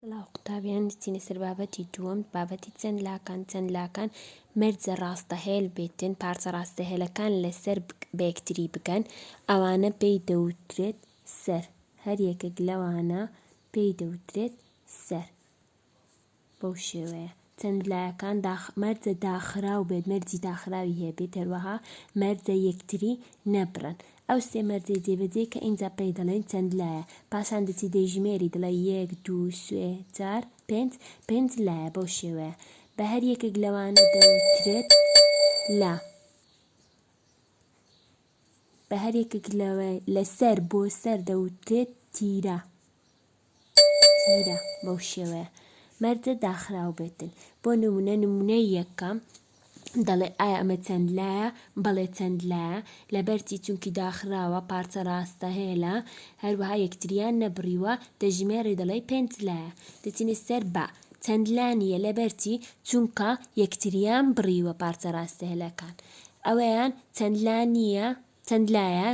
سڵاو قوتابیان چینە سەر بابەتی دووەم بابەتی چەند لاکان چەند لاکان مەرجە ڕاستەهێل بێتن پارچە ڕاستەهێلەکان لەسەر بەیەکتری بگەن ئەوانە پێی دەوترێت سەر هەر یەکێک لەوانە پێی دەوترێت سەر بەو شێوەیە چەند لایەکان داخ مەرجە داخراو بێت مەرجی داخراوی هەیە بێت هەروەها مەرجە یەکتری نەبڕن ئەو سێ مەرجەی جێبەجێ کە ئینجا پێی دەڵێن چەند لایە پاشان دەچی دەیژمێری دەڵێ یەک دوو سێ چار پێنج پێنج لایە بەو شێوەیە بە هەر یەکێک لەوانە دەوترێت لا. بە هەر یەکێک لەوێ لەسەر بۆ سەر دەوترێت تیرە تیرە بەو شێوەیە مەرجە داخراو بێتن بۆ نمونە نمونەی یەکەم دەڵێ ئایا ئەمە چەند لایە بەڵێ چەند لایە لەبەرچی چونکی داخراوە پارچە ڕاستە هێلە هەروەها یەکتریان نەبڕیوە دەژمێری دەڵێ پێنج لایە دەچینە سەر بە چەند لا نیە لەبەرچی چونکە یەکتریان بڕیوە پارچە ڕاستە هێلەکان ئەوەیە چەند لا نییە چەند لایە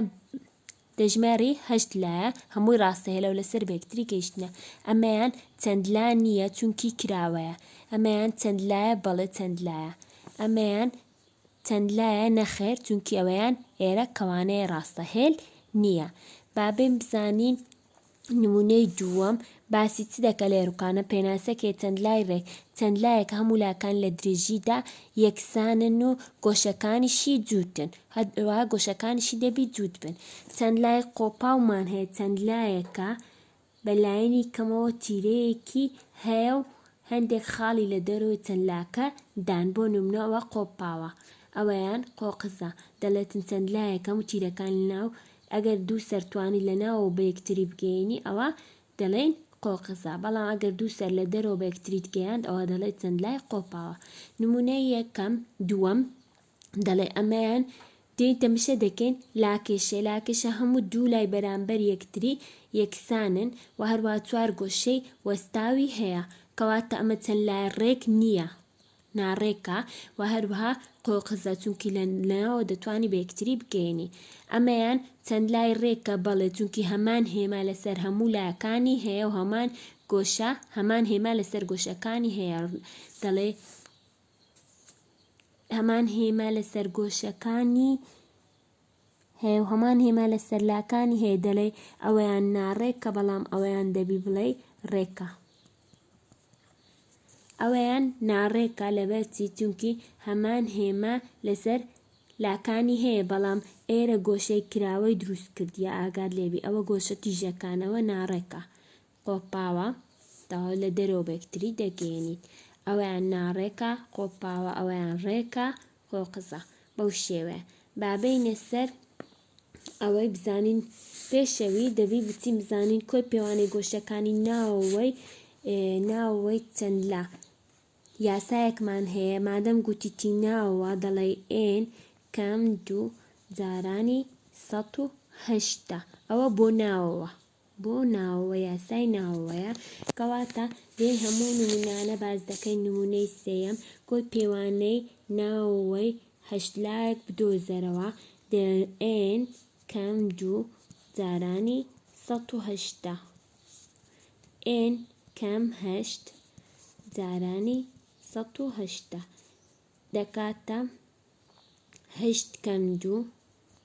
دەژمێڕی هەشت لایە هەمووی ڕاستە هێلە و لەسەر بەکتری گەیشتنە ئەمەیان چەند لا نییە چونکی کراوەیە ئەمەیان چەند لایە بەڵێ چەند لایە ئەمەیان چەند لایە نەخێر چونکی ئەوەیان ئێرە کەوانەیە ڕاستە هێل نییە با بێم بزانین نمونەی دووەم باسی چ دەکەت لە یەروکانە پێناسەکێ چەند لای رێک چەند لایەکە هەموو لاکان لە درێژیدا یەکسانن و گۆشەکانیشی جووتن هەروەها گۆشەکانیشی دەبی جووت بن چەند لای قۆپاومان هەیە چەند لایەکە بە لایەنی کەمەوە تیرەیەکی هەیە و هەندێک خاڵی لە دەرەوەی چەند لاکە دان بۆ نمونە ئەوە قۆپاوە ئەوەیان قۆقزە دەڵێتن چەند لایەکە هەموو تیرەکانی ناو ئەگەر دوو سەر توانیت لە ناوەوە بە یەکتری بگەیەنی ئەوا دەڵێین قۆقزا، بەڵام ئەگەر دوو سەر لە دەرەوە بە یەکتریت گەیاند ئەوا دەڵێی چەند لای قۆپاوە. نموونەی یەکەم، دووەم، دەڵێ ئەمەیان دێین تەمشە دەکەین لاکێشێ، لاکێشە هەموو دوو لای بەرامبەر یەکتری یەکسانن و هەروەها چوار گۆشەی وەستاوی هەیە، کەواتە ئەمە چەند لای ڕێک نییە. ناڕێکە و هەروەها قۆقزە چونکی لە ناوەوە دەتوانی بە یەکتری بگەیەنی ئەمەیان چەند لای ڕێکە بەڵێ چونکی هەمان هێما لەسەر هەموو لایەکانی هەیە و هەمان گۆشە هەمان هێما لەسەر گۆشەکانی هەیە دەڵێ هەمان هێما لەسەر گۆشەکانی هەیە و هەمان هێما لە سەرلاکانی هەیە دەڵێی ئەوەیان ناڕێکە بەڵام ئەوەیان دەبی بڵێی ڕێکە ئەوەیان ناڕێکە لەبەرچی چونکی هەمان هێما لەسەر لاکانی هەیە بەڵام ئێرە گۆشەی کراوەی دروست کردیە ئاگات لێبی ئەوە گۆشە تیژەکانەوە ناڕێکە قۆپاوە تەواو لە دەرەوە بەیەکتری دەگەیەنیت ئەویان ناڕێکە قۆپاوە ئەویان ڕێکە قۆقزە بەو شێوەیە با بێینە سەر ئەوەی بزانین پێشەوی دەبی بچین بزانین کۆی پێوانەی گۆشەکانی ناوەوەی ناوەوەی چەند لە یاسایەکمان هەیە مادەم گوتیتی ناوەوە دەڵێ ئێن کەم دوو جارانی ١هشتا ئەوە بۆ ناوەوە بۆ ناوەوە یاسای ناوەوەیە کەواتە لێی هەموو نمونانە باس دەکەین نمونەی سێیەم کۆی پێوانەی ناوەوەی هەشت لایەک بدۆزەرەوە دەلئێن کەم دوو جارانی سەد و هەشتا ئێن کەم هەشت جارانی سەد و هەشتا دەکاتە هەشت کەم دوو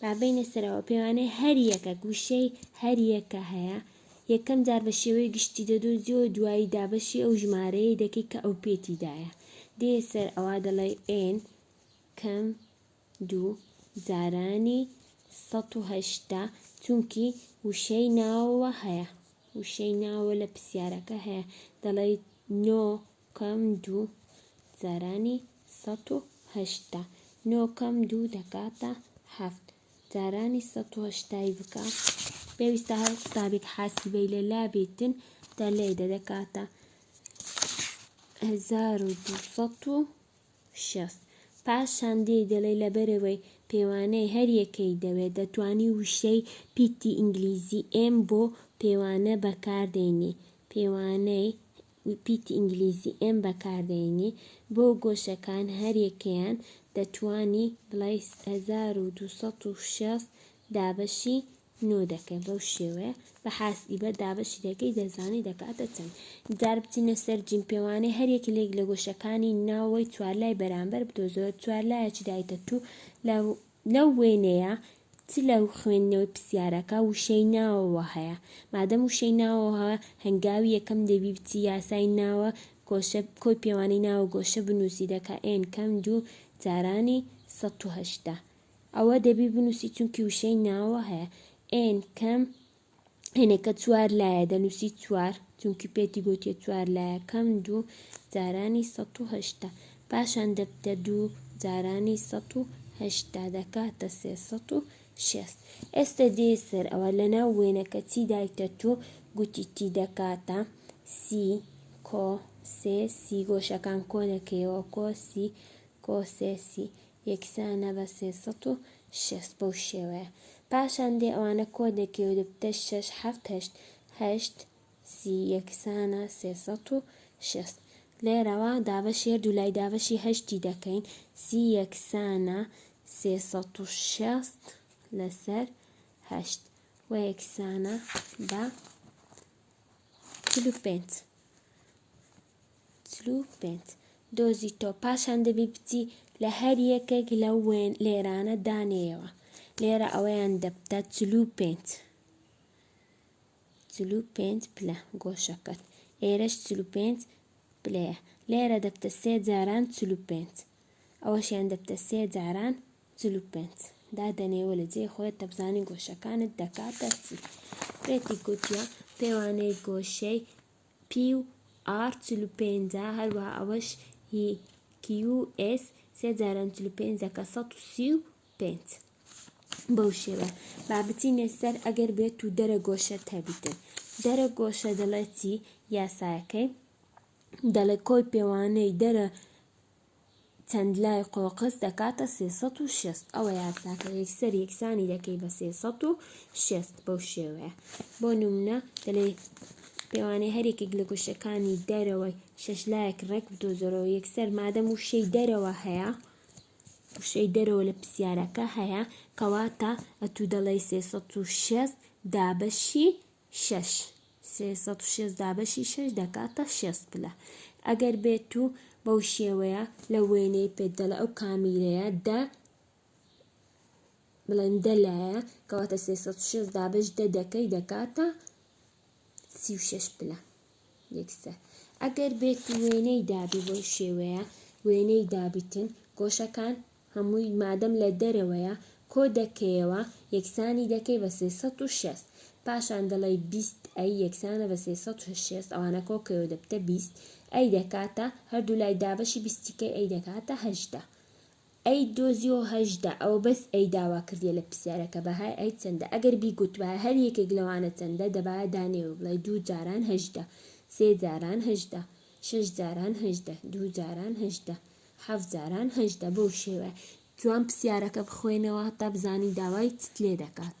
با بینە سەرەوە پێوانەی هەریەکە گوشەی هەریەکە هەیە یەکەم جار بە شێوەی گشتی دەدۆزی و دوایی دابەشی ئەو ژمارەیە دەکەی کە ئەو پێتیدایە دێ سەر ئەوا دەڵێ ئێن کەم دوو جارانی ١٨٠ چونکی وشەی ناوەوە هەیە وشەی ناوە لە پرسیارەکە هەیە دەڵێ نۆ کەم دوو جارانی سەد و هەشتا. نۆ کەم دوو دەکاتە هەفت. جارانی سەد و هەشتا ی بکە. پێویستە هەر قوتابیک حاسیبەی لە لا بیتن دە لەی دە دەکاتە هەزار و دوو سەد و شەست. پاشان دێی دەڵێی لەبەرەوەی پێوانەی هەر یەکەی دەوێ دەتوانی وشەی پیتی ئینگلیزی ئێم بۆ پێوانە بەکاردێنی پێوانەی وپیتی ئینگلیزی ئێم بەکاردەینی بۆ گۆشەکان هەریەکەیان دەتوانی بڵێی هەزار و دوو سەد و شێست دابەشی نۆ دەکەی بەو شێوەیە بە حاسیبە دابەشی دەکەی دەزانی دەکاتە چەند جار بچینە سەر جیم پێوانەی هەریەکی لێک لە گۆشەکانی ناوەوەی چوارلای بەرامبەر بدۆزەوە چوارلایەکی دایتە توو لە لەو وێنەیە چ لە خوێندنەوەی پرسیارەکە وشەی ناوەوە هەیە؟ مادەم وشەی ناوەوە هەیە، هەنگاوی یەکەم دەبی بچی یاسای ناوە گۆشە کۆی پێوانەی ناوە گۆشە بنووسی دەکا ئێن کەم دوو جارانی سەد و هەشتا. ئەوە دەبی بنووسی چونکی وشەی ناوەوە هەیە ئێن کەم هێنێ کە چوار لایە دەنووسی چوار چونکی پێتی گوتێ چوار لایە کەم دوو جارانی سە و هشتا پاشان دەبتە دوو جارانی سە و هشتا دەکاتە سێسە و شێست ئێستا دێ سەر ئەوە لە ناو وێنەکە چی دایتە تو گوتی تی دەکاتە سی کۆ سێ سی گۆشەکان کۆ دەکەیەوە کۆسی کۆسێسی یەکسانە بە سێ سەد و شێست بەو شێوەیە پاشان دێ ئەوانە کۆ دەکەی و دەبتە شەش حەفت هەشت هەشت سی یەکسانە سێ سەد و شێست لێرەوە دابەشی هەردوو لای دابەشی هەشتی دەکەین سی یەکسانە سێ سەد و شێست لەسەر هەشت و یەکسانە بە چل و پێنج چل و پێنج دۆزی تۆ پاشان دەبی بچی لە هەر یەکێک لە وێن لێرانە دانێیەوە لێرە ئەوەیان دەبتە چل و پێنج چل و پێنج پلە گۆشەکەت ئێرەش چل و پێنج پلەیە لێرە دەبتە سێ جاران چل و پێنج ئەوەشیان دەبتە سێ جاران چل و پێنج دادەنێوە لە جێ خۆت دەبزانی گۆشەکانت دەکاتە چی پێتی گوتیە پێوانەی گۆشەی QR چل و پێنج ە هەروەها ئەوەش هی QS سێ جاران چل و پێنج دەکە سەد و سی و پێنج بەو شێوە با بچینە سەر ئەگەر بێت و دەرە گۆشە تەبیتن دەرە گۆشە دەڵێتی یاسایەکەی دەڵێ کۆی پێوانەی دەرە چەند لای قۆقز دەکاتە سێ سەد و شێست ئەوە یاساکە یەکسەر یەکسانی دەکەی بە سێ سەد و شێست بەو شێوەیە بۆ نمونە دەلێی پێوانەی هەرێکێک لە گۆشەکانی دەرەوەی شەش لایەک ڕێک بدۆزەرەوە یەکسەر مادەم وشەی دەرەوە هەیە وشەی دەرەوە لە پرسیارەکە هەیە کەواتە ئەتوو دەڵێی سێ سەد و شێست دابەشی شەش. سێ سەد و شەست دابەشی شەش دەکاتە شەست پلە. ئەگەر بێت و بەو شێوەیە لە وێنەی پێت دەڵێ ئەو کامیرەیە دە بڵێن دە لایە کەواتە سێ سەد و شەست دابەش دە دەکەی دەکاتە سی و شەش پلە یەکسەر. ئەگەر بێت وێنەی دابی بەو شێوەیە وێنەی دابیتن گۆشەکان هەمووی مادەم لە دەرەوەیە کۆ دەکەیەوە یەکسانی دەکەی بە سێ سەد و شێست پاشان دەڵێی بیست ئەی یەکسانە بە سێ سەد و شێست ئەوانە کۆکەیەوە دەبتە بیست ئەی دەکاتە هەردوو لای دابەشی بیستی کەی ئەی دەکاتە هەژدە ئەی دۆزیەوە هەژدە ئەوە بەس ئەی داوا کردیە لە پرسیارەکە بەهای ئەی چەندە ئەگەر بیگوتبایە هەر یەکێک لەوانە چەندە دەبایە دانێوە بڵێی دوو جاران هەژدە سێ جاران هەژدە شەش جاران هەژدە دوو جاران هەژدە هەفت جاران هەژدە بەو شێوەیە. جوان پسیارەکە بخوێنەوە هەتا بزانی داوای چت لێدەکات.